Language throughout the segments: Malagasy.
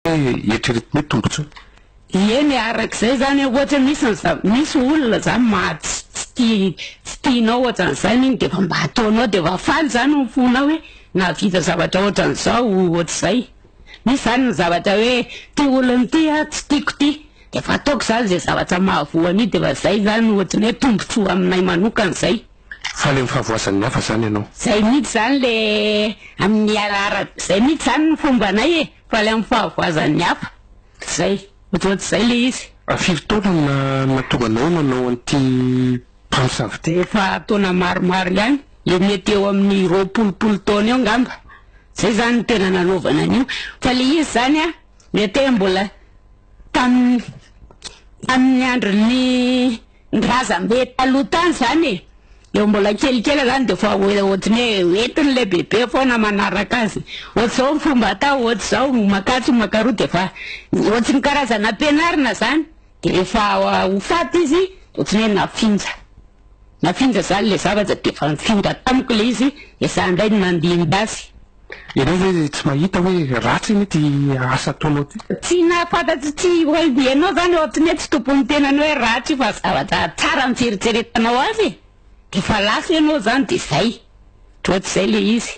Eritreretin'ny hoe tombontsoa. Eny, arak'izay izany an, ohatra misy an'za, misy olona izany maha tsy tsy tia tsy tianao ohatran'izany iny dia efa mba ataonao dia efa faly izany ny fonao hoe nahavita zavatra ohatran'izao ohatr'izay. Misy izany ny zavatra hoe ity olona ity an tsy tiako ity dia efa ataoko izany izay zavatra mahavoa an'io dia efa izay izany no ohatran'ny hoe tombontsoa aminay manokana izay. Faly amin'ny fahavoazan'ny hafa izany ianao? Izay mihitsy izany ilay amin'ny ara ara, izay mihitsy izany ny fombanay e! Faly amin'ny fahavoazan'ny hafa. Izay. Ohatrohatr'izay ilay izy. Fa firy taona no nahatonga anao nanao an'ity mpamosavy ity? Efa taona maromaro ihany. Eo mety eo amin'ny roapolopolo taona eo angamba. Izay izany no tena nanaovana an'io. Fa ilay izy izany an, mety hoe mbola tamin'ny, tamin'ny andron'ny. Ny razambe taloha tany zany e, eo mbola kelikely zany de efa ohatran'ny hoe entiny le bebe foana manaraka azy, ohatr'izao ny fomba atao ohatr'izao, makatsy makaroa de efa ohatry ny karazana ampianarina zany, de rehefa ho faty izy ohatry ny hoe nafinja, nafinja zany le zavatra de efa nifindra tamiko le izy de za ndray no nandimby azy. Ianao ve tsy mahita hoe ratsy anie ty asa ataonao ty? Tsy nahafantatro tsy hoe ianao izany ohatran'ny hoe tsy tompon'ny tenany hoe ratsy io fa zavatra tsara ny fieritreretanao azy e! Dia efa lasa ianao izany dia izay. Ohatr'izay ilay izy.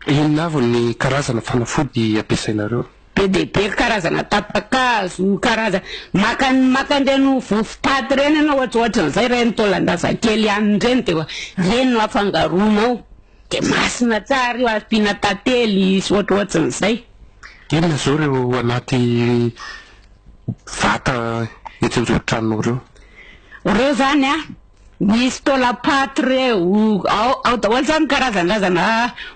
Inona avy ny karazana fanafody ampiasainareo? Be dia be ry karazana tapa-kazo, karazana, maka ny, maka an'ireny vovo-paty ireny ianao ohatrohatran'izay, ireny taolan-drazakely hanina ireny dia ireny no afangaronao. Dia masina tsara io ary tiana tantely sy ohatrohatsin'izay. Inona izao ireo anaty vata etsy anjoron-tranonao ireo? Ireo izany an, misy taolam-paty ireo, ao ao daholo izany ny karazan'drazana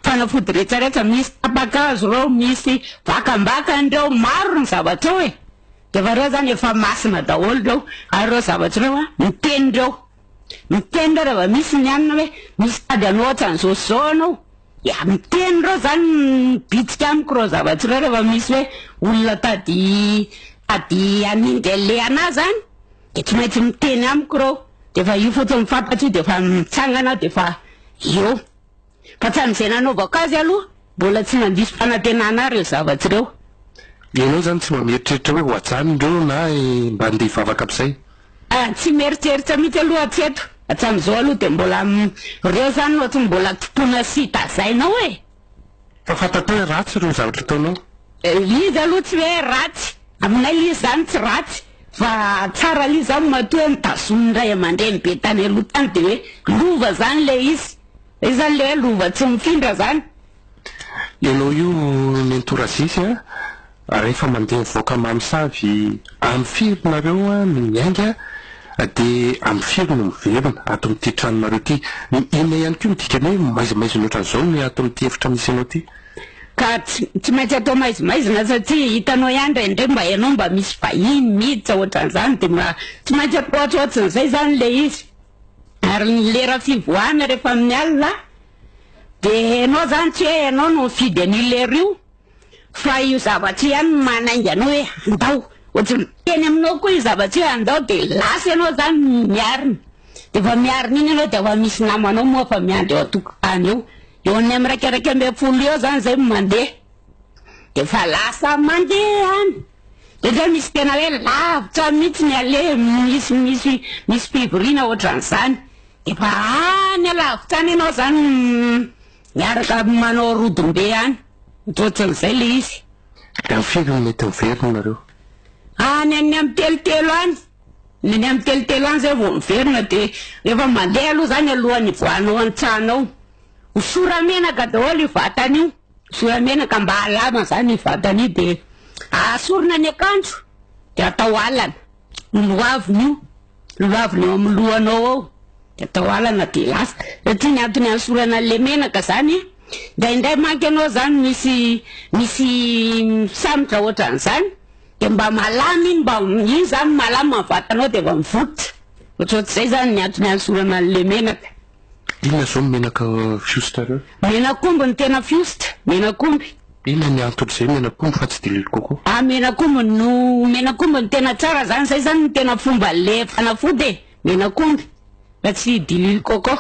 fanafody rehetrarehetra, misy tapa-kazo ireo, misy vakambakany ireo, maro ny zavatra ao e! Dia efa ireo izany efa masina daholo ireo, ary ireo zavatra ireo an, miteny ireo. Miteny ireo raha vao misy ny anona hoe misy tady anao ohatran'izao sy izao anao. Dia miteny ireo izany mibitsika amiko ireo zavatra ireo raha vao misy hoe olona tady tady hanindry an'ilay anà izany dia tsy maintsy miteny amiko ireo. Dia efa io fotsiny fantatro io dia efa mitsangana aho dia efa eo. Hatramin'izay nanaovako azy aloha mbola tsy nandiso fanantenana ahy ireo zavatsy ireo. Ianao izany tsy mba mieritreritra hoe ho ajanony ireo na mba andeha hivavaka amin'izay? Ah, tsy mieritreritra mihitsy aloha hatreto. Hatramin'izao aloha dia mbola ireo izany no ohatry ny mbola tokona sy tazainao e! Fa fantatrao hoe ratsy ireo zavatra ataonao. Izy aloha tsy hoe ratsy, aminay ilay izy izany tsy ratsy fa tsara ilay izy izany matoa hoe notazonin'ny ray aman-dreny be tany aloha tany dia hoe lova izany ilay izy. Izay izany ilay hoe lova tsy mifindra izany. Ianao io nenitorazisy a, Rehefa mandeha mivoaka mamosavy Amy firy nareo no miainga de amy firy no miverina ato amin'ity tranonareo ity? Inona ihany koa no dikany hoe maizimaizina ohatran'izao ny ato amin'ity efitra misy anao ity? Ka tsy maintsy atao maizimaizina satria hitanao ihany indray indray mba ianao mba misy vahiny miditra ohatran'izany de mba tsy maintsy atao ohatrohatsin'izay izany ilay izy. Ary ny lera fivoahana rehefa amin'ny alina dia ianao izany tsy hoe ianao no mifidy an'io lera io. Fa io zavatra io ihany no manainga anao hoe andao ohatry ny teny aminao koa io zavatra io hoe andao de lasa ianao zany miarina de vao miarina iny ianao de efa misy namanao moa efa miandry eo an-tokotany eo eo an'ny amin'ny raika raika ambin'ny folo eo zany zay mandeha de efa lasa mandeha any de zay misy tena hoe lavitra mihitsy ny aleha misy misy misy fivoriana ohatran'izany de efa any alavitra any ianao zany Miaraka manao rodombe any. Misaotran'izay le izy. Dia firy no mety miverina nareo? Any any amin'ny telotelo any. Ny any amin'ny telotelo any zay vao miverina dia rehefa mandeha aloha zany alohan'ny hivoahanao an-tsanao. Ho sora-menaka daholo io vatana io. Sora-menaka mba halama zany io vatana io dia ahasorina ny akanjo dia atao alana. Ny lohaviny io. Loavina ao amin'ny lohanao ao de atao alana de lasa satria ny antony anesorana an'le menaka zany a ndraindray manko ianao zany misy misy misambotra ohatran'izany de mba malama iny mba iny zany malama ny vatanao de mba mivotra ohatrohatr'izay zany ny antony anesorana an'le menaka Inona zao ny menaka fiosta reo? Menak'omby no tena fiosta, menak'omby. Inona ny antony zay menak'omby fa tsy de l'huile coco? Ah menak'omby no, menak'omby no tena tsara zany, zay zany no tena fomba le fanafody e, menak'omby fa tsy diluile coco,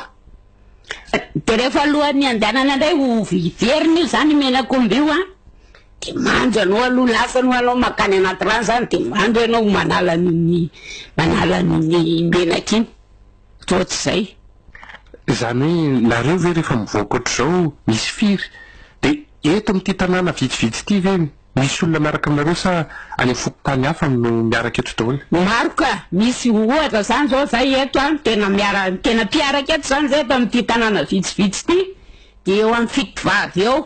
de rehefa alohan'ny handehanana ndray ho hiverina io zany menak'omby io an, de mandro anao aloha lasa aloha anao makany anaty rano zany de mandro enao manala an'iny manala an'iny menaka iny. Toa tsy izay? Izany hoe nareo ve rehefa mivoaka ohatr'izao misy firy? Dia eto amin'ity tanàna vitsivitsy ity ve misy olona miaraka aminareo sa any amin'ny fokontany hafa no miaraka eto daholo? Maro ka! Misy ohatra izany izao izahay eto an, tena miara, tena mpiaraka eto izany izahay eto amin'ity tanàna vitsivitsy ity, dia eo amin'ny fito vavy eo.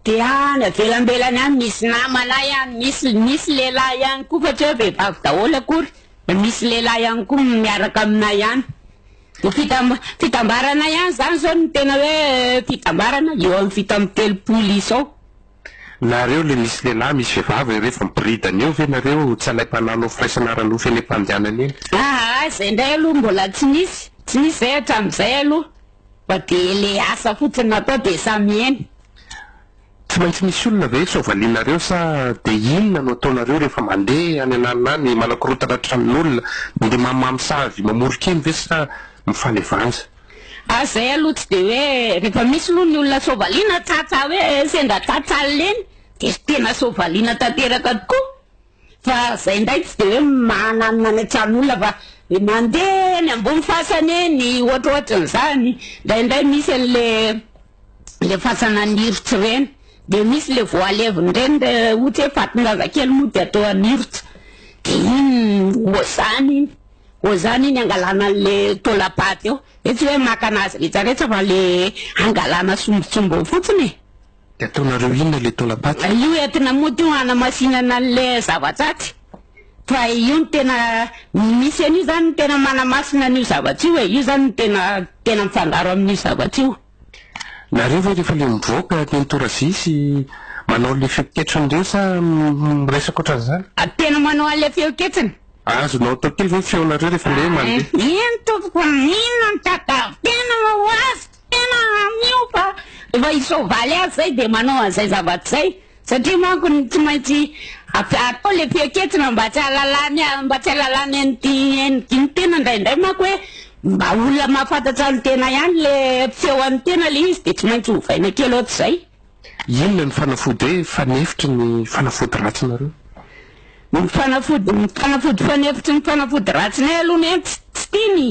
Dia any avelambelany any misy namanay any, misy, misy lehilahy ihany koa fa tsy hoe vehivavy daholo akory. Misy lehilahy ihany koa miaraka aminay ihany. Dia fitam- fitambarana ihany izany izao no tena hoe fitambarana, eo amin'ny fito amby telopolo izao. Nareo le misy lehilahy misy vehivavy ireo efa miboridana eo ve nareo tsy anay mpananao firaisana ara-nofo eny am-pandehanana eny? Aa izay indray aloha mbola tsy nisy, tsy nisy izay hatramin'izay aloha fa dia le asa fotsiny natao dia samy eny. Tsy maintsy misy olona ve sao valianareo sa de inona no ataonareo rehefa mande any an'alina any manakorotana tranon'olona mande mamimamy sa avy mamoron-keny ve sa mifanevanja. Fa zay aloha tsy de hoe rehefa misy aloha ny olona sao valiana tsatsa hoe sendra tsatsa lena de tena sao valiana tanteraka tokoa. Fa zay ndray tsy de hoe manano manatrano olona fa mandeha eny ambony fasana eny ohatrohatran'zany ndraindray misy anle le fasana anirotra ireny de misy le vao alevin'ireny le ohatra hoe fatin-jazakely moa de atao anirotra de iny oazany iny oazany iny angalana anle taolam-paty eo, hoe tsy hoe maka anazy rehetra rehetra fa le angalana sombintsombiny fotsiny e. De ataonareo inona le taolam-paty? Ay io entina mody io hanamasinana anle zava-tsaty fa io no tena misy an'io zany no tena manamasina an'io zavatra io e, io zany no tena tena mifangaro amin'io zavatra io. Nareo ve rehefa le mivoaka teny Toravia sy manao le feon-ketriny reo sa miresaka otran'izany? A tena manao anle feon-ketsiny. Azonao atao kely ve ny feonareo rehefa le mandeha? Eny tompoko, inona no tadiavin-tena ho azy? Tena miova efa i soavaly azy zay dia manao an'izay zavatra izay satria manko ny tsy maintsy atao le fiaketrina mba tsy ahalalany mba tsy ahalalany an'ity endriky ny tena indraindray manko hoe mba olona mahafantatra ny tena ihany le fiseho an'ny tena le izy dia tsy maintsy ovaina kely ohatr'izay. Inona ny fanafody hoe fanefitry ny fanafody ratsinareo? Ny fanafody ny fanafody fanefitry ny fanafody ratsinay aloha ny ahy tsy tsy tiany.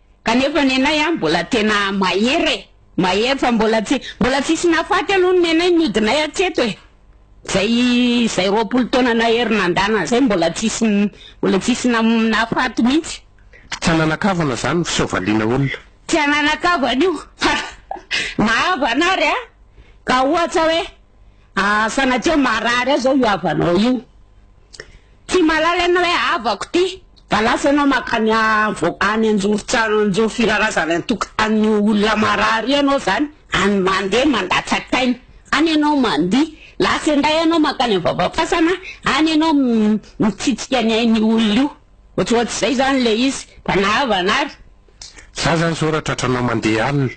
Kanefa nenay a mbola tena mahery e! Mahery fa mbola tsy mbola tsisy nahafaty aloha ny nenay nodinay hatreto e! Zay zay roapolo taona nahery nandana zay mbola tsisy mbola tsisy nahafaty mihitsy. Tsy hananakavana zany ny fiseho valiana olona. Tsy hananakavana io fa na havana ary a ka ohatra hoe sanatria marary aho zao io havanao io. Ty malala ianao hoe havako ty da lasa ianao makany any anjorontsano anjoro firarazana antokotany olona marary ianao zany any mandeha mandatsak'aina any ianao mandihy lasa indray ianao makany vavafasana any ianao mitsitsika ny ainy olona io ohatsohats'izay zany le izy da nahavana ary za zany zao raha tratranao mandeha any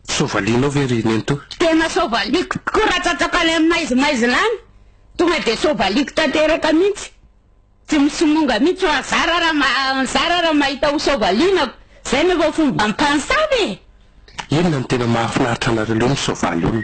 sovalinao ve ry nenitoa tena sovaliko tokoa raha tsatsako any aminy maizimaizina any Tonga dia sovaliko tanteraka mihitsy. Tsy misimonga mihitsy fa zara raha ma- zara raha mahita ho sovalinako. Zay no efa fomba mpansavy e! Inona no tena mahafinaritra anareo leo ny soavaly olona?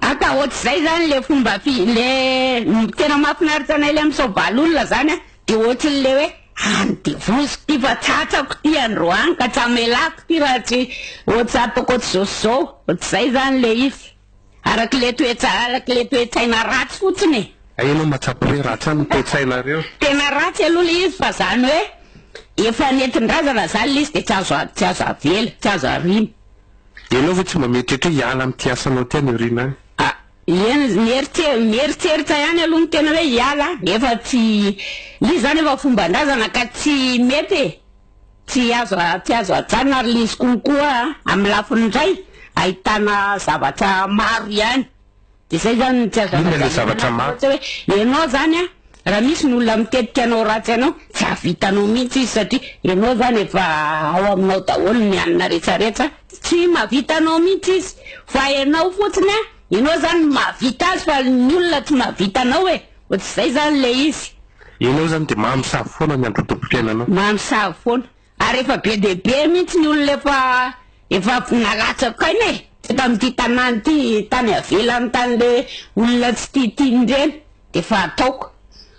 Aka ohatr'izay zany le fomba fi- le tena mahafinaritra anay le misoavaly olona zany a, de ohatry le hoe any de voziko ty fa tsy atsako ty andro any ka tsy amelako ty raha tsy ohatry ataoko ohatry zao sy zao, ohatr'izay zany le izy. Araka le toetsa, araka le toetsaina ratsy fotsiny e! Hay enao matsapa hoe ratsy any ny toetsainareo? Tena ratsy aloha le izy fa zany hoe efa nentindrazana zany le izy de tsy azo tsy azo avela, tsy azo ariana. Enao ve tsy mba mieritreritra hoe hiala amty asanao ty any aoriana any? Ah, eny, mieritse- mieritseritra ihany aloha ny tena hoe hiala an! Efa tsy, izy zany efa fombandrazana ka tsy mety e! Tsy azo tsy azo ajanona ry Lisy konkoa a! Amin'ny lafiny indray ahitana zavatra maro ihany dia izay izany no tsy azo ajanona. Inona ilay zavatra maro? Ohatra hoe ianao izany a, raha misy ny olona mitetika hanao ratsy anao, tsy hahavitanao mihitsy izy satria ianao izany efa ao aminao daholo ny hanina rehetra rehetra, tsy mahavita anao mihitsy izy fa ianao fotsiny a, ianao izany no mahavita azy fa ny olona tsy mahavita anao e! Fa tsy izay izany ilay izy. Ianao izany dia maha misavy foana ny androtoam-piainanao. Maha misavy foana. Ary efa be dia be mihitsy ny olona efa efa nalatsaka aina e! Teto amin'ity tanàna ity, tany avelany tany le olona tsy tia tiany ireny dia efa ataoko.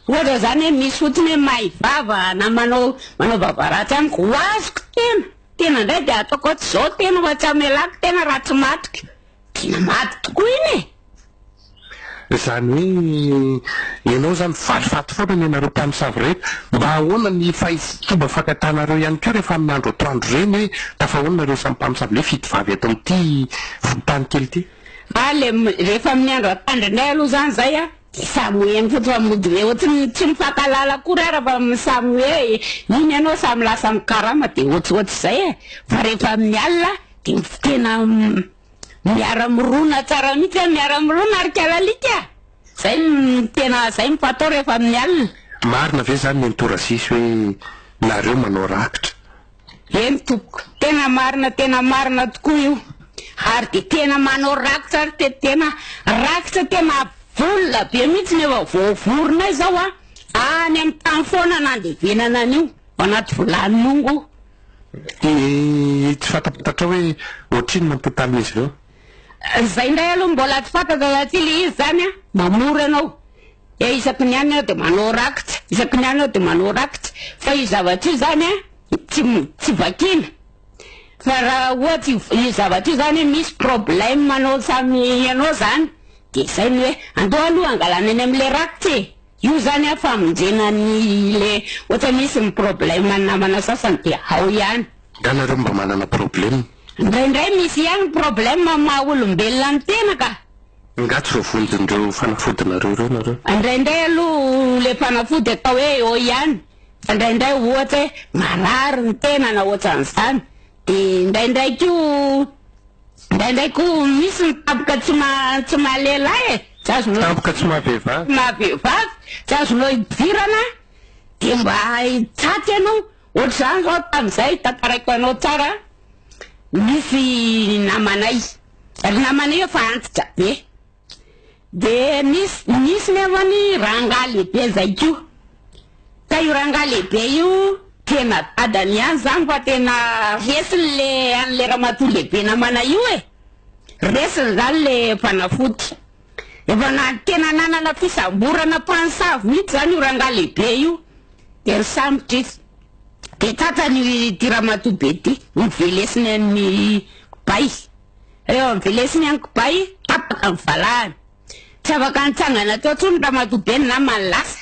Ohatra izany hoe misy fotsiny hoe may vava na manao manao vava ratsy amiko, ho azoko tena. Tena indray dia ataoko hoe tsy izao tena fa tsy hamelako tena raha tsy matiko. Tena mady tokoa iny e! Izany hoe ianao izany valifaty foana ny anareo mpamosavy rehetra. Mba ahoana ny fomba fankatanareo ihany koa rehefa amin'ny andro atoandro ireny hoe tafahoana nareo samy mpamosavy hoe fito vavy eto amin'ity fokontany kely ity? Alem, rehefa amin'ny andro atandrinay aloha izany izay an! Tsy samy hoe mifototra mody be ohatry ny tsy mifankahalala akory ara fa samy hoe iny ianao samy lasa mikarama dia ohatrohatry izay e! fa rehefa amin'ny alina dia tena miara mirona tsara mihitsy a! miara mirona ry kala alika a! izay no tena izay no fatao rehefa amin'ny alina. Marina ve zany nenitoa Rassy hoe nareo manao rakitra? Eny tompoko, tena marina tena marina tokoa io, ary dia tena manao rakitra ary te tena rakitra tena vonona be mihitsy ny efa voavoronay zao a, any amin'ny tany foana nandevenana an'io anaty vilany mongo. Dia tsy fantatrao hoe ohatrinona ny totalin'izy ireo? Izay indray aloha mbola tsy fantatra raha tsy ilay izy zany a, mamory anao. Dia isaky ny any aho dia manao rakitra, isaky ny any aho dia manao rakitra. Fa io zavatra io izany an, tsy tsy vakiana. Fa raha ohatra io zavatra io izany misy problème anao samy ianao izany, dia izay ny hoe andao aloha hangalana eny amin'ilay rakitra e! Io izany an famonjena an'ilay ohatra misy ny problème ny namana sasany dia ao ihany. Nga nareo mba manana problème? Indraindray misy ihany problème amin'ny maha olombelona ny tena ka! Nga tsy voavonjin'ireo fanafodinareo ireo nareo? Indraindray aloha le fanafody atao hoe eo ihany fa indraindray ohatra hoe marary ny tenana ohatran'izany de indraindray ko indraindray ko misy ny tampoka tsy ma tsy maha lehilahy e tsy azonao tampoka tsy maha vehivavy maha vehivavy tsy azonao idirana de mba hitsatsa ianao Ohatr'izany zao tamin'izay tantaraiko anao tsara nisy namanay ry namanay efa antitra be de misy nisy nefa ny rangaha lehibe zay ko ka io rangaha lehibe io tena dadany ihany zany fa tena resiny le an'le ramatoa lehibe namanay io e resiny zany le fanafody Efa na tena nanana fisamborana mpansavy mihitsy zany io rangahy lehibe io de nisambotra izy de tratrany ity ramatoa be ty novelesiny an'ny kibay reo avelesiny an'ny kibay tapaka ny valahany tsy afaka nitsangana teo tsony ramatoa be ny namany lasa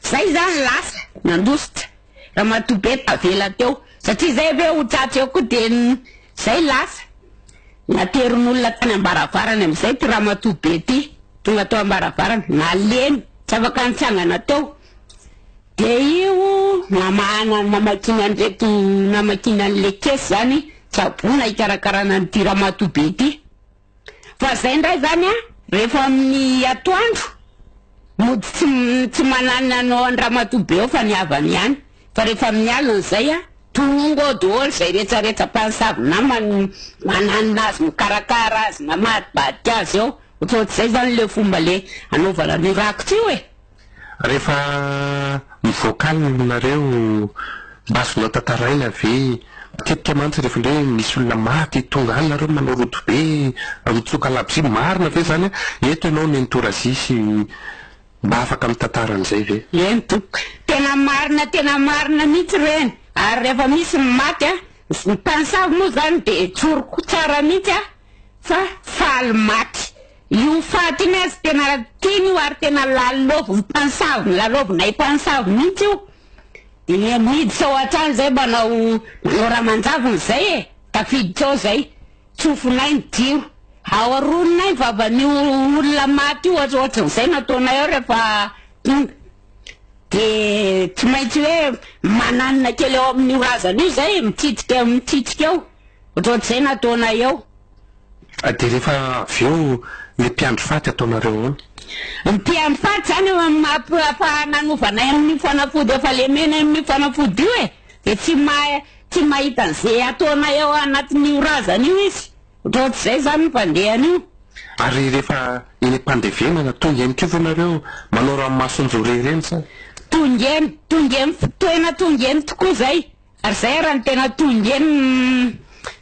zay zany lasa nandositra ramatoa be tavela teo satria zay ve ho tratry eo koa dia zay lasa naterin'olona tany ambaravarany amin'izay ty ramatoa be ty tonga teo ambaravarany nalemy tsy afaka nitsangana teo dia io namahana namakiny an'ireto namakiny an'le kesy zany tsabona hikarakarana an'ity ramatoa be ty Fa zay ndray zany a rehefa amin'ny atoandro mody tsy tsy mananina anao an-dramatoa be ao fa ny havany ihany fa rehefa amin'ny alina zay a tonga ao daholo zay rehetrarehetra mpansavy namany mananina azy mikarakara azy mamadibadika azy ao ohatraohatrizay zany le fomba le anaovana an'io rakitra io e Rehefa mivoaka any ny olonareo, mba azonao tantaraina ve, matetika mantsy rehefa indray hoe misy olona maty, tonga any nareo manao rodobe be, mitsoka labozia, marina ve izany? Eto ianao nenitorazia sy mba afaka mitantara an'izay ve? Eny tompoko, tena marina tena marina mihitsy ireny, ary rehefa misy ny maty an, ny mpanisavy moa izany dia tsoriko tsara mihitsy aho fa faly maty, Io fahatiny azy tena tiany io ary tena lalaoviny mpansavy lalaovinay mpansavy mihitsy io dia miditra ao an-trano izay manao manao ramanjaviny izay e tafiditra ao izay tsofinay ny jiro ao aroninay ny vavan'io olona maty io ohatra ohatran'izay nataonay ao rehefa tonga dia tsy maintsy hoe mananina kely ao amin'io razana io izay e mitsitsika mitsitsika ao ohatran'izay nataonay ao Dia rehefa avy eo ny mpiandry faty ataonareo ahoana? Ny mpiandry faty izany eo amin'ny maha-mpananovanay amin'io fanafody efa lemena eo amin'io fanafody io e! Dia tsy mahay, tsy mahita an'izay ataonay ao anatin'io razana io izy. Ohatraohatr'izay izany ny fandehany io. Ary rehefa eny am-pandevenana, tonga eny koa ve nareo manao ranomason-joria ireny sa? Tonga eny, tonga eny, tena tonga eny tokoa izay. Ary zay ara no tena tongeny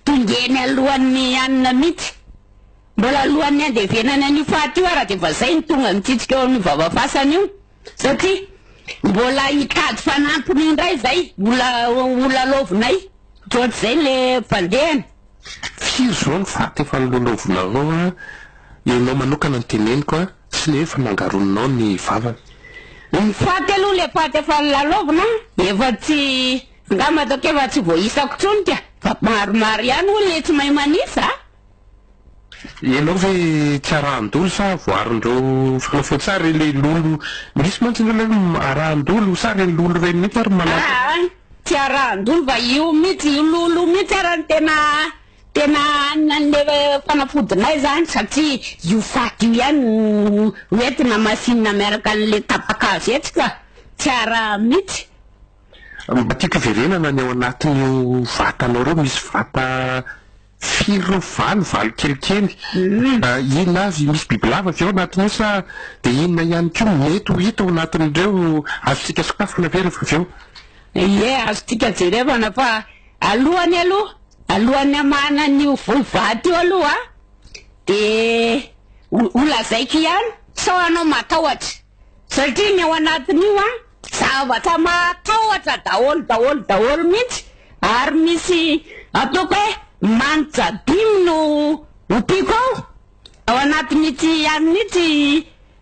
tongeny alohan'ny hanina mihitsy. Mbola alohan'ny handevenany an'io faty io ara dia efa zay no tonga mitsitsika eo amin'ny vava fasany io satria mbola hitady fanampiny indray zay mbola ho lalaovinay ohatr'izay le fandehany. Firy zao ny faty efa nololovinareo a? Ianao manokana no teneniko a! Tsy lefy nangaroninao ny vavany e. Ny faty aloha le faty efa lalaovina efa tsy nga matoky efa tsy voaisako tsony ka fa maromaro ihany hono le tsy mahay manisa a. Ianao ve tsy arahan-dolo sa voarin'ireo mpanao feon-tsary ry Lolo? Misy mantsy ny hoe arahan-dolo sa ry Lolo ireny mihitsy ary no manao. Aa tsy arahan-dolo fa io mihitsy io Lolo io mihitsy ary no tena Tena an'le fanafodinay zany satria io faty io ihany no hoentina hamasinina miaraka an'le tapaka azo etsy ka! Tsy araha mitsy. Mba tiako hiverenana ny ao anatin'io vatanao reo, misy vata firy reo, valo, valo kelikely, inona avy, misy bibilava avy ao anatin'io sa de inona ihany koa mety ho hita ao anatin'ireo, azontsika sokafana ve rehefa avy eo? Ie, azontsika jerevana fa. Alohany aloha, alohan'ny hamahana an'io voly vato io aloha dia ho lazaiko ihany sao hanao matahotra satria ny ao anatin'io a zavatra mahatahotra daholo daholo daholo mihitsy ary misy ataoko hoe manitra dimy no ompiako ao ao anatin'ity ihany mihitsy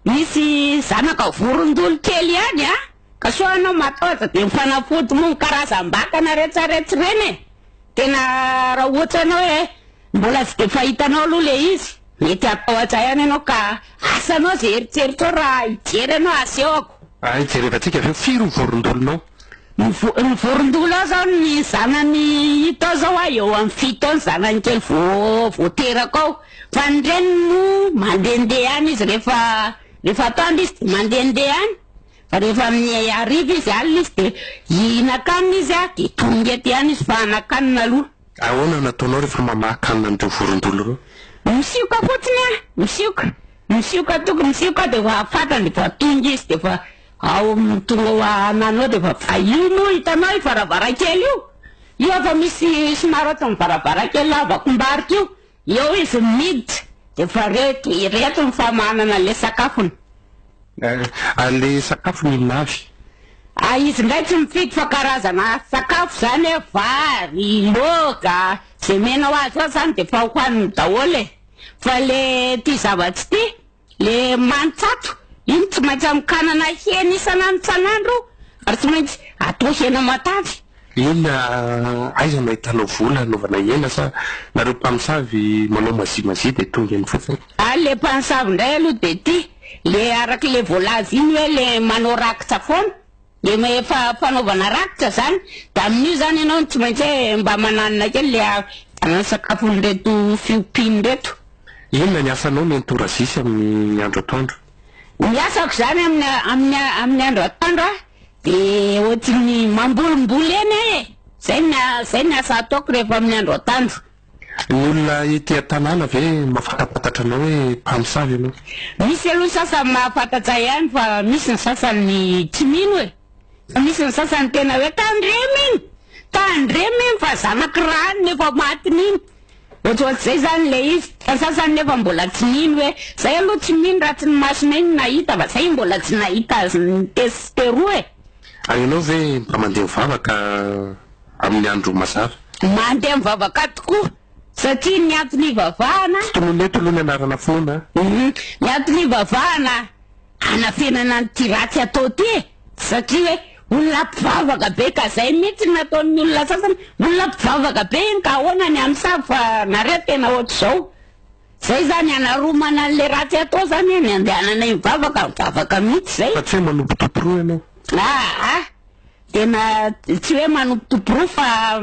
misy zanaka vorondolo kely ihany a Ka sao ianao mataotra dia mifanafody moa ny karazam-batana retsaretsy ireny e! Tena raha ohatra ianao hoe mbola tsy dia fahitanao aloha ilay izy, mety hatahotra ihany ianao ka asa anao izay eritreritrao raha hijery anao asehoko. Hay, jerevantsika avy eo, firy ny vorondolonao? Ny vo- ny vorondolo ao izao ny zanany hita ao izao aho eo amin'ny fito eo ny zanany kely vao vao teraka ao, fa ny reniny moa mandehandeha any izy rehefa rehefa atoandro izy dia mandehandeha any. Fa rehefa amin'ny hariva izy alina izy dia hihinan-kanina izy ary dia tonga ety ihany izy fa hanan-kanina aloha. Ahoana no ataonao rehefa mamaha kanina an'ireo vorondolo ireo? Misioka fotsiny aho, misioka, misioka toko, misioka aho dia efa fantany fa tonga izy dia efa ao amin'ny tonga ho ananao dia efa fa io moa hitanao io varavarankely io, io efa misy somary ohatran'ny varavarankely lavakombarika io Eo izy miiditra de voareto ireto ny famahanana le sakafony. Ary le sakafony inona avy? Ah izy ndray tsy mifidy fa karazana sakafo zany hoe vary, loaka, ze mena ho azy eo zany de efa hohaniny daholo e! Fa le tia zava-tsy tia. Le mantsato iny tsy maintsy anokanana hena isan'andro isan'andro ary tsy maintsy atao hena matavy. Inona aiza no ahitanao vola anaovana hena sa nareo mpamosavy manao mazimazia dia tonga eny fotsiny? Ary le mpansavy ndray aloha de ity le arak'le voalaza iny hoe le manao rakitra foana. Dia ma efa fanaovana rakitra izany, dia amin'io izany ianao no tsy maintsy hoe mba mananina kely le a sakafon'ireto fiompiana ireto. Inona ny asanao nenitoa Razisy amin'ny andro atoandro? Ny asako izany amin'ny a amin'ny a amin'ny andro atoandro a dia ohatry ny mambolimboly eny aho e! Izay ny a izay ny asa ataoko rehefa amin'ny andro atoandro. Ny olona ety an-tanàna ve mahafantampatatra anao hoe mpamosavy ianao? Misy aloha ny sasany mahafantatra ihany fa misy ny sasany tsy mino e! Fa misy ny sasany tena hoe tandremo iny! Tandremo iny fa zanak'i Rano no efa matiny iny! Ohatrohatr'izay izany ilay izy. Fa ny sasany nefa mbola tsy mino hoe izay aloha tsy mino raha tsy ny masonay no nahita fa izay mbola tsy nahita azy nitesiteroa e! Ary ianao ve mba mandeha vava ka amin'ny andro mazava. Mandeha amin'ny vavaka tokoa satria ny antony ivavahana. Finoana eto aloha ny anarana finoana a. Ny antony ivavahana hanafenana an'ity ratsy atao ity e. Satria hoe olona mpivavaka be ka izay mihitsy no nataon'ny olona sasany. Olona mpivavaka be iny ka ahoana ny amin'ny samy fa nareo tena ohatr'izao. Izay izany hanaromana an'ilay ratsy atao izany e, ny andehananay mivavaka, mivavaka mihitsy izay. Fa tsy hoe manompo tomporoa ianao. Aa. Tena tsy hoe manombotombo porofo fa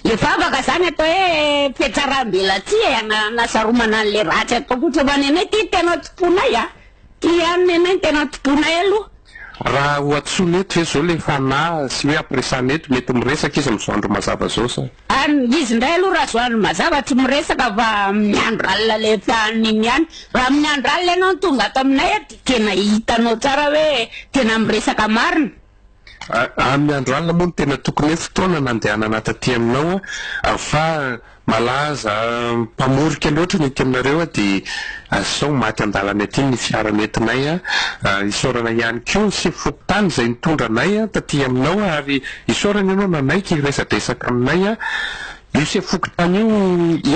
le vavaka zany atao hoe fiatsaram-belatsihy e, hanasaromana an'le ratsy ataoko ohatra fa nenay ity tena tomponay a, ity ihany nenay no tena tomponay aloha. Raha ho antsoina eto ve zao le fanahy sy hoe ampiresahana eto mety miresaka izy amin'izao andro mazava zao sa? Any izy ndray aloha raha zao andro mazava tsy miresaka fa amin'ny andro alina le fahaniny ihany, raha amin'ny andro alina ianao no tonga ato aminay eto de tena hitanao tsara hoe tena miresaka marina. Amin'ny andro alina moa no tena tokony hoe fotoana nandehanana taty aminao fa malaza mpamorika loatra ny ety aminareo dia sao ho maty an-dalana ety ny fiara nentinay. Isaorana ihany koa ny sefo fokontany izay nitondra anay taty aminao ary isaorana ianao nanaiky hiresadresaka aminay. Io sefo fokontany io,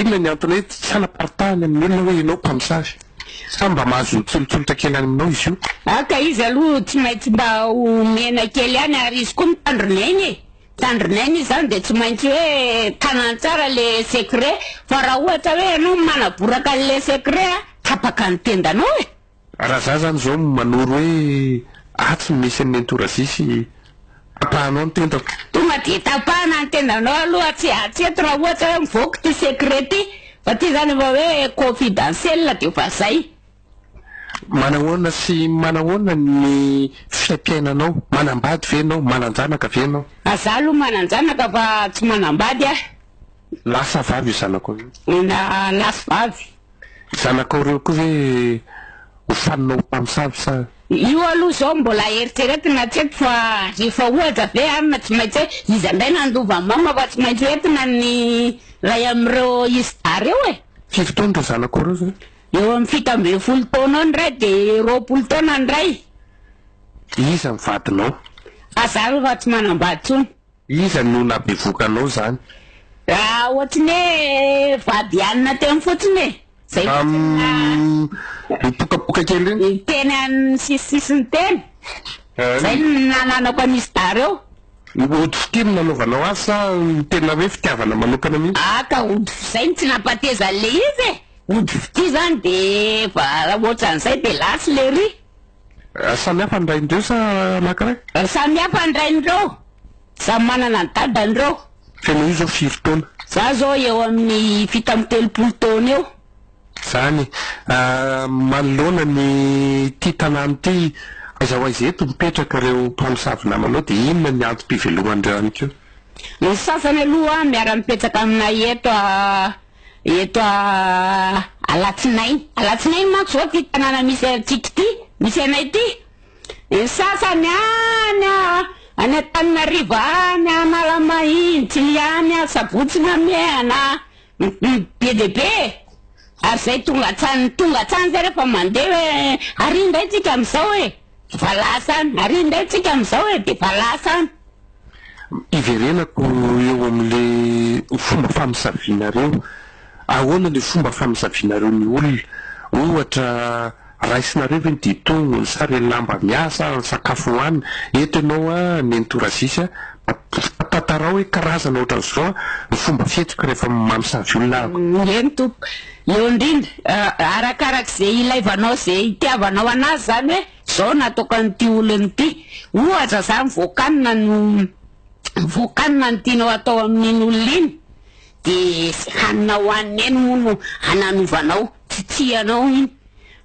inona ny antony hoe tsy hanaparitahany amin'ny olona hoe ianao mpamosavy? Sa mba mahazo tsolotsolotra kely any aminao izy io? Ah ka izy aloha tsy maintsy mba omena kely ihany ary izy koa mitandrina eny e. Mitandrina eny izy izany dia tsy maintsy hoe tanany tsara le secret fa raha ohatra hoe ianao no manaboraka an'ilay secret a, tapaka ny tendanao e. Raha za zany zao manoro hoe atsy no misy an'i nenitorazia sy. tapahanao ny tendako. Tonga aty tapahana ny tendanao aloha tsy tsy eto raha ohatra hoe mivoaka ity secret ity fa ity zany efa hoe confidentiel de efa zay. Manahoana sy manahoana ny fiaim-piainanao? Manambady ve ianao? Manan-janaka ve ianao? A za aloha manan-janaka fa tsy manambady aho. Lahy sa vavy io zanako io? Lahy sy vavy. Zanakao reo koa ve ho fanina ho mpamosavy sa. Io aloha zao mbola eritreretina hatreto fa rehefa ohatra ve ary na tsy maintsy hoe iza ndray nandova mama fa tsy maintsy hoentina ny ray amin'ireo izy dahy reo e. Firy taona reo zanakao reo zany? Eo amin'ny fito ambin'ny folo taona eo ny ray de roapolo taona ny ray. Iza ny vadinao? Aza aloha tsy manambady tsony. Iza no nabevokanao zany? Raha ohatry ny hoe vady hanina teo fotsiny e! Zay fotsiny ny naha. Mipokapoka kely reny? Teny amin'ny sisisisiny teny. Zay no nananako an'izy tary eo. Ody fitia no nanaovanao azy sa tena hoe fitiavana manokana mihitsy? Ah ka ody fi-, zay no tsy nampahatezan'le izy e! Ody fitia zany de efa ohatran'izay de lasa le ry. Samy hafa ny rain'ireo sa anankiray? Samy hafa ny rain'ireo, samy manana ny dadan'ireo. Tena io zao firy taona? Za zao eo amin'ny fito amby telopolo taona eo. Zany manoloana ny ity tanàna ity aiza ho aiza eto mipetraka ireo mpamosavy namanao dia inona ny antom-piveloman'ireo ihany koa? Ny sasany aloha miara-mipetraka aminay eto a. Eto Alatsinainy. Alatsinainy manko zao ty tanàna misy antsika ty, misy anay ty. Ny sasany any any Antananarivo any, Analamahintsy, ny any Sabotsy Namehana, be dia be e! ary zay tonga hatrany tonga hatrany zay rehefa mandeha hoe ary indray tsika amizao e! Efa lasa any, ary indray tsika amizao e, efa lasa any. Iverenako eo amin'le fomba famisavianareo, ahoana le fomba famisavianareo ny olona? Ohatra, raisinareo ve ny ditognony sa le lamba miasa, ny sakafo hoanina? Eto ianao a, nenitorazisy a, mba tantarao hoe karazana ohatran'izao ny fomba fihetsiky rehefa mamisavy olona ahako. Eny tompoko, Eo indrindra, arakaraka izay ilaivanao, izay itiavanao anazy izany hoe izao no ataoko an'ity olona ity. Ohatra izany, voakanina no voakanina no tianao atao amin'iny olona iny, dia hanina hohaniny eny moa no hananovanao, tsy tianao iny.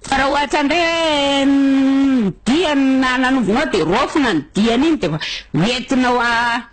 Fa raha ohatra indray hoe ny diany no hananovinao dia raofina ny diany iny, dia efa hoentinao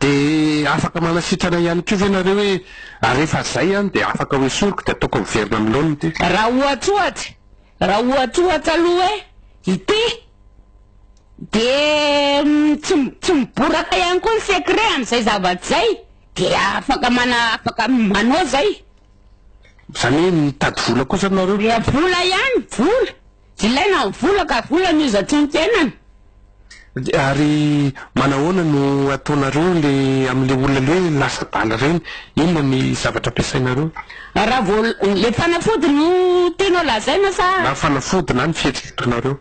Dia afaka manasitrana ihany koa ve nareo hoe ary rehefa zay an dia afaka ho esoriko dia ataoko miverina amin'ny laoniny ity? Raha ohatra ohatra, raha ohatra ohatra aloha hoe ity dia tsy tsy miboraka ihany koa ny secret amin'izay zavatra izay dia afaka mana afaka manao izay. Izany hoe mitady vola kosa nareo? Dia vola ihany, vola. Ilaina ny vola ka vola no izatro ny tenany. Ary manahoana no ataonareo le amle olona le hoe lasa bala reny, inona ny zavatra ampiasainareo? Raha vao le fanafody no tianao lazaina sa? Na fanafody na ny fihetsika ataonareo.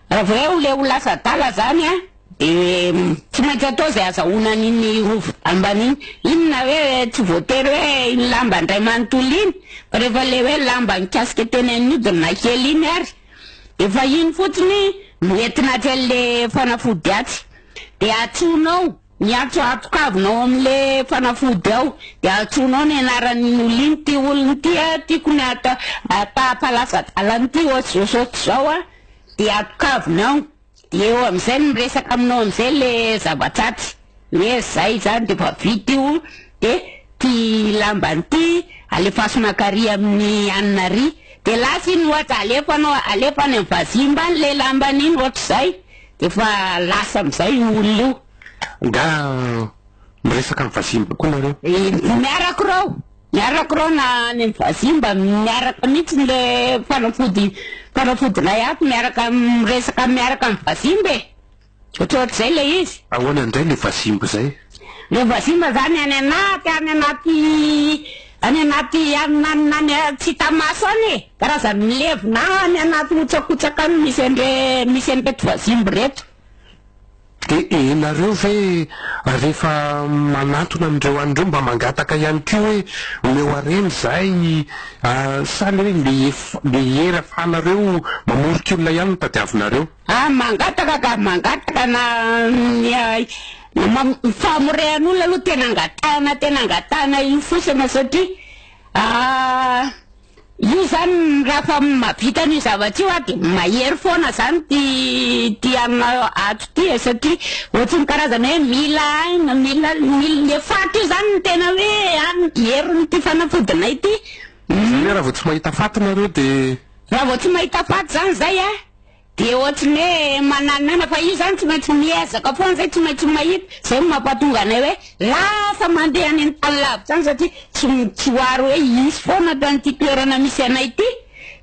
Raha vao le ho lasa adala zany an! Dia tsy maintsy atao izay azahoana an'iny rova ambany iny. Inona hoe tsy voatery hoe iny lamba indray manontolo iny, fa rehefa ilay hoe lamba nikasika teny amin'ny hodina kely iny ary, efa iny fotsiny no entina atsy an'ilay fanafody atsy. Dia antsoinao ny antso atokavinao amin'ilay fanafody ao, dia antsoinao ny anaran'iny olona iny, ity olona ity an, tiako ny atao, hampalaza-dalana ity, ohatr'izao sy ohatr'izao an, dia atokavina ao. Eo amizay no miresaka aminao amizay le zava-dratsy ny hoe zay zany de efa vita io de ty lambany ty alefaso makary aminy anina ary de lasa iny ohatra alefanao alefa any am vazimba any le lambany iny otrizay de efa lasa amizay io olona io. Nga miresaka am vazimba koa nareo? Miarako reo. Miarako reo na any am vazimba miaraka mitsiny le fanafody fanafody lay ato miaraka miresaka miaraka am vazimba e! Otrotrizay le izy. Ahoana indray le vazimba zay? Le vazimba zany any anaty any anaty any anaty any any tsy hita maso any e! Karazany milevina any anaty hotsakotsaka any misy andre misy anreto vazimba reto. Dia enareo ve rehefa manantona an'ireo any ireo mba mangataka ihany koa hoe omeo harena izahay sa le hoe le le hery afahanareo mamoriky olona ihany no tadiavinareo? Ah mangataka ka mangataka na ny famorehan'olona aloha tena angatahana tena angatahana io fosana satria ah. Io zany raha fa mahavita an'io zavatra io aho de mahery foana zany ty ty hanina ato ty e satria ohatry ny karazana hoe mila aina mila mila le faty io zany ny tena hoe an heriny ty fanafodinay ty. Zany hoe raha vao tsy mahita faty nareo de. Raha vao tsy mahita faty zany zay a. Dia ohatry ny hoe mananonana fa io izany tsy maintsy miezaka foana izay, tsy maintsy mahita, izay no mampatonga anay hoe lasa mandeha any amin'ny tany lavitra any satria tsy tsy ho ary hoe hisy foana ato amin'ity toerana misy anay ity,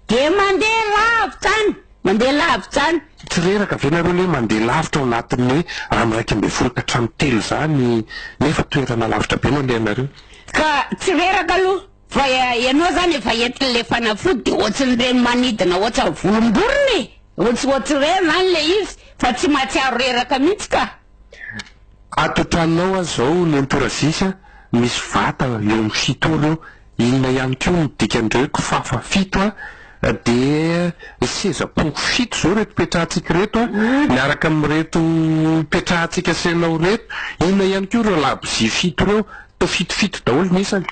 dia mandeha lavitra any, mandeha lavitra any. Tsy reraka ve nareo ny hoe mandeha lavitra ao anatin'ny hoe andro iraika ambin'ny folo ka hatramin'ny telo izany nefa toerana lavitra be no alehanareo? Ka tsy reraka aloha Fa ianao zany efa hentiny le fanafody de ohatsin'ireny manidina ohatsa volomborona e ohatsa ohatsireny zany le izy fa tsy matsiaro reraka mihitsy ka. Ato an-tranonao aza izao nentorazis a, misy vata eo amin'ny fito ora eo, inona ihany koa no dikan'ireo kifafa fito a, dia ny seza pongo fito izao ireto petrahantsika ireto a, miaraka amin'ireto petrahantsika asainao ireto, inona ihany koa ireo labozia fito ireo. To fito fito daholo ny isany.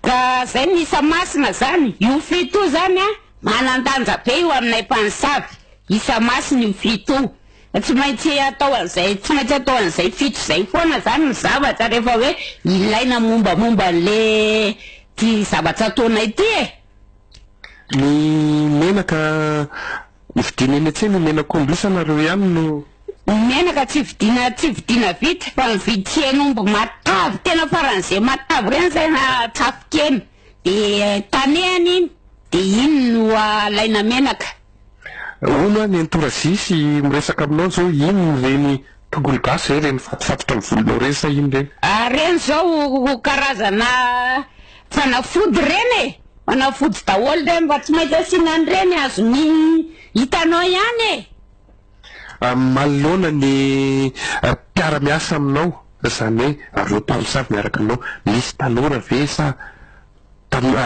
Ka zay misa masina zany io fito io zany a manandanja be io aminay mpanisavy isa masina io fito io fa tsy maintsy atao an'izay tsy maintsy atao an'izay fito zay foana zany ny zavatra rehefa hoe ilaina mombamomba an'le ty zavatra ataonay ty e. Ny menaka Hividiana eny an-tsena io menaka omby io sa nareo ihany no. Ny menaka tsy vidiana tsy vidiana vita fa mividy tsy hena omby matavy tena faran'izay matavy ireny zay na tsafin-kena de tanehana iny de iny no alaina menaka. Hono hoa nentora zisy miresaka aminao zao iny ireny tongolo gasy zay ireny mifatofatotra ny volonao ireny sa iny ireny. Ah reny zao karazana fanafody reny e. Fanafody daholo reny mba tsy maintsy asiana an'ireny azon'ny hitanao ihany e! Manoloana ny mpiara miasa aminao izany hoe ireo mpamosavy miaraka aminao misy tanora ve sa tanora